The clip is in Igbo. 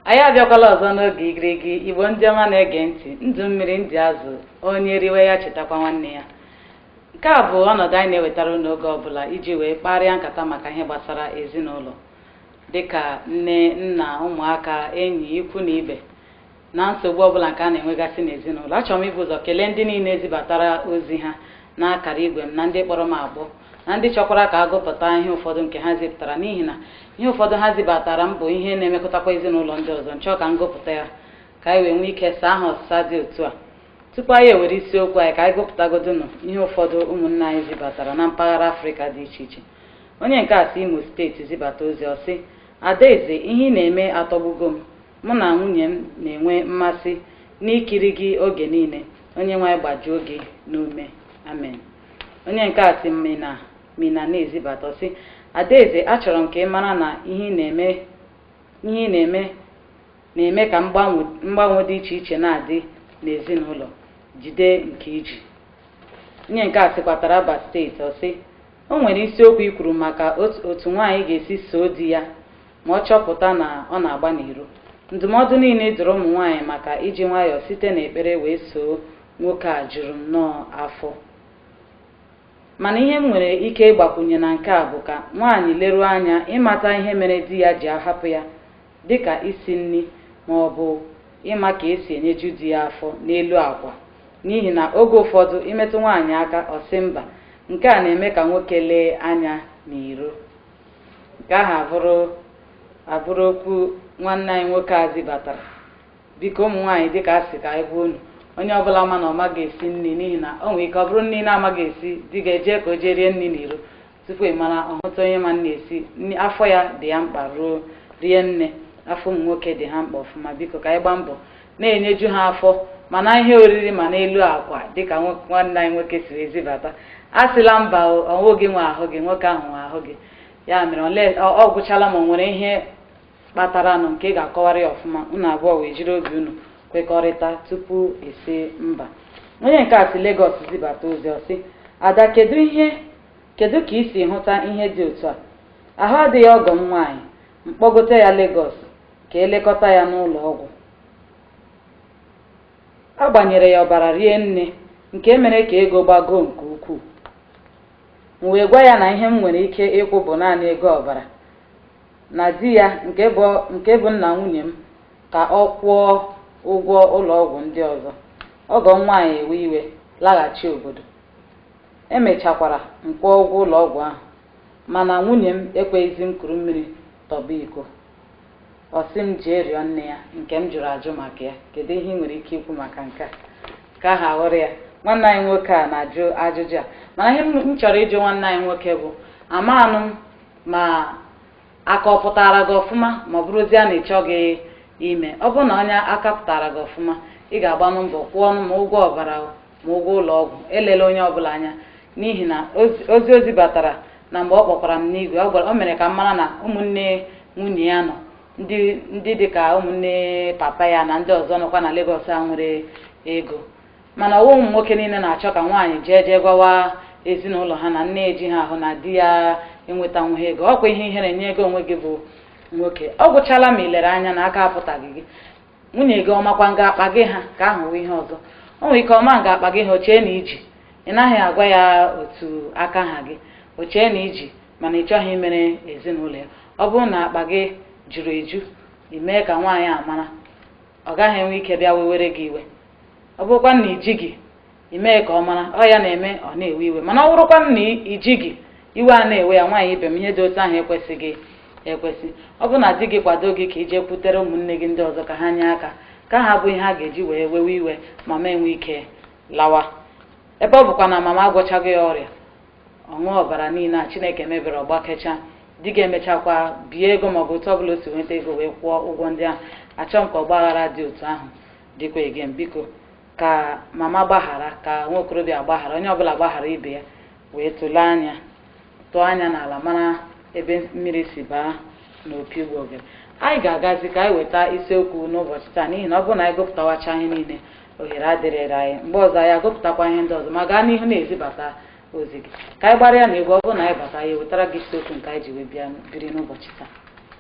anyị abịakwala ọzọ n'oge igirigi igbo ndị ọma na-ege ntị ndụ mmiri ndụ azụ onye riwe ya chetakwa nwanne ya nke a bụ ọnọdụ anyị na-ewetara unu oge ọbụla iji wee kparịa nkata maka ihe gbasara ezinụlọ dịka nne nna ụmụaka enyi ikwu na ibe na nsogbu ọbụla nke a na-enwegasị n'ezinụlọ achọrọ m ibu ụzọ kelee ndị niile zibatara ozi ha n'akara igwe m na ndị kpọrọ m akpọ na ndị chọkwara ka a gụpụta ihe ụfọdụ nke ha zibatara n'ihi na ihe ụfọdụ ha zibatara m bụ ihe na-emekutakwa ezinụlọ ndị ọzọ m chọọ ka m gụpụta ya ka anyị wee nwee ike saa ha ọsịsa dị otu a Tupu anyị ewere isiokwu anyị ka anyị gụpụtagodonụ ihe ụfọdụ ụmụnna anyị zibatara na mpaghara Afrịka dị iche iche. Onye nke a si Imo steeti zibata ozi ọ sị, Adaeze ihe ị na-eme atọgbugo m. Mụ na nwunye m na-enwe mmasị n'ikiri gị oge niile. Onyenwe anyị gbajuo gị n'ume. Amen. Onye nke a si Minna Minna na-ezibata sị, Adaeze achọrọ m ka ị mara na ihe ị na-eme ihe ị na-eme na-eme ka mgbanwe dị iche iche na-adị n'ezinụlọ jide nke i ji onye nke a sikwa Taraba steeti ọ sị o nwere isiokwu i kwuru maka otu nwaanyị ga-esi soo di ya ma ọ chọpụta na ọ na-agba n'iro ndụmọdụ niile ị dụrụ ụmụ nwaanyị maka iji nwayọọ site n'ekpere wee soo nwoke a juru m nnọọ afọ mana ihe m nwere ike ịgbakwunye na nke a bụ ka nwaanyị leruo anya ịmata ihe mere di ya ji ahapụ ya dị ka isi nri ma ọ bụ ịma ka e si enyeju di ya afọ n'elu akwa, n'ihi na oge ụfọdụ imetụ nwaanyị aka ọ sị mba, nke a na-eme ka nwoke lee anya n'iro. Nke ahụ abụrụ abụrụ okwu nwanne anyị nwoke a zibatara. Biko ụmụ nwaanyị dịka a sị ka anyị gwa unu, onye ọbụla ma na ọ maghị esi nri n'ihi na o nwere ike ọ bụrụ nri ị na-amaghị esi, di gị ejee ka o jee rie nri n'iro. tupu ị mara ọ hụta onye ma nri esi afọ ya dị ya mkpa ruo rie nne afọ ụmụ nwoke dị ha mkpa ọfụma biko ka anyị gbaa mbọ na-enyeju ha afọ ma n'ihe oriri ma n'elu akwa dịka nwanne anyị nwoke siri zibata asịla mba ọ bụghị gị nwe ahụ gị nwoke ahụ nwe ahụ gị ya mere ọ gwụchala ma ọ nwere ihe kpataranụ nke ị ga-akọwara ya ọfụma unu abụọ wee jiri obi unu kwekọrịta tupu a sị mba onye nke a si Legọs zibata ozi ọ sị ada kedu ihe Kedụ ka i si hụta ihe dị otu a? Ahụ adịghị ọgọ m nwaanyị, m kpọgote ya Lagos ka e lekọta ya n'ụlọ ọgwụ. A gbanyere ya ọbara rie nne nke mere ka ego gbagoo nke ukwuu. M wee gwa ya na ihe m nwere ike ịkwụ bụ naanị ego ọbara, na di ya nke bụ nna nwunye m ka ọ kwụọ ụgwọ ụlọ ọgwụ ndị ọzọ. Ọgọ m nwaanyị ewe iwe laghachi obodo. E mechakwara m kwụọ ụgwọ ụlọ ọgwụ ahụ, mana nwunye m ekweghịzi m kuru mmiri tọgbọ iko. Ọ sị m jee rịọ nne ya nke m jụrụ ajụ maka ya. Kedụ ihe ị nwere ike ikwu maka nke a? Ka ahụ wụrụ ya. Nwanne anyị nwoke a na-ajụ ajụjụ a. Mana ihe m chọrọ ịjụ nwanne anyị nwoke bụ, amaghị m ma aka ọ pụtara gị ọfụma ma ọ bụrụzie na ị chọghị ime ọ bụrụ na onye aka pụtara gị ọfụma ị ga-agbanụ mbọ kwụọnụ ma ụgwọ ọbara o, ma ụgwọ ụlọ ọgwụ elela onye ọbụla anya n'ihi na ozi- ozi batara na mgbe ọ kpọkwara m n'igwe ọ gwara- o mere ka m mara na ụmụnne nwunye ya nọ ndị ndị dị ka ụmụnne papa ya na ndị ọzọ nọkwa na Lagos a nwere ego Mana ọ wụghị ụmụ nwoke niile na-achọ ka nwaanyị jee jee gwawa ezinụlọ ha na nne ejighị ahụ na di ya enwetanwughị ego ọ kwa ihe ihere nye gị onwe gị bụ nwoke ọ gwụchala ma ị lere anya na aka apụtaghị gị nwunye gị ọ makwa nga akpa gị ha ka ahụ wụ ihe ọzọ o nwere ike ọ maghị nga akpa gị ha o chee na i ji ị naghị agwa ya otu aka ha gị o chee na i ji mana ị chọghị imere ezinụlọ ya ọ bụrụ na akpa gị juru eju ị mee ka nwaanyị a mara ọ gaghị enwe ike bịa wewere gị iwe ọ bụrụkwa na i ji gị emee ka ọ mara ọ ya na-eme ọ na-ewe iwe mana ọ bụrụkwa na i jighị iwe a na-ewe ya nwaanyị ibe m ihe dị otu ahụ ekwesịghị ekwesị ọ bụrụ na di gị kwado gị ka i jekwutere ụmụnne gị ndị ọzọ ka ha nye aka ka ahụ abụghị ihe a ga-eji wee wewe iwe mama enwee ike lawa ebe ọ bụkwa na mama agwọchaghị ya ọrịa ọ ṅụọ ọbara niile a chineke mebere ọ gbakechaa di gị emechakwa bie ego maọbụ otu ọ bụla o si nweta ego wee kwụọ ụgwọ ndị ahụ achọghị m ka ọgbaghara dị otu ahụ dịkwa again biko ka mama gbaghara ka nwa okorobịa gbaghara onye ọbụla gbaghara ibe ya wee tụlee anya tụọ anya n'ala mara ebe mmiri si baa n'opi ụgbọgụrụ anyị ga-agazi ka anyị weta isiokwu n'ụbọchị taa n'ihi na ọ bụrụ na anyị gụpụtawacha ihe niile ohere adịghịrị anyị mgbe ọzọ anyị agụpụtakwa ihe ndị ọzọ ma gaa n'ihu na-ezibata ozi gị ka anyị gbara gaa n'egwu ọ bụrụ na anyị bata anyị ewetara gị isiokwu nke anyị ji wee bịa biri n'ụbọchị taa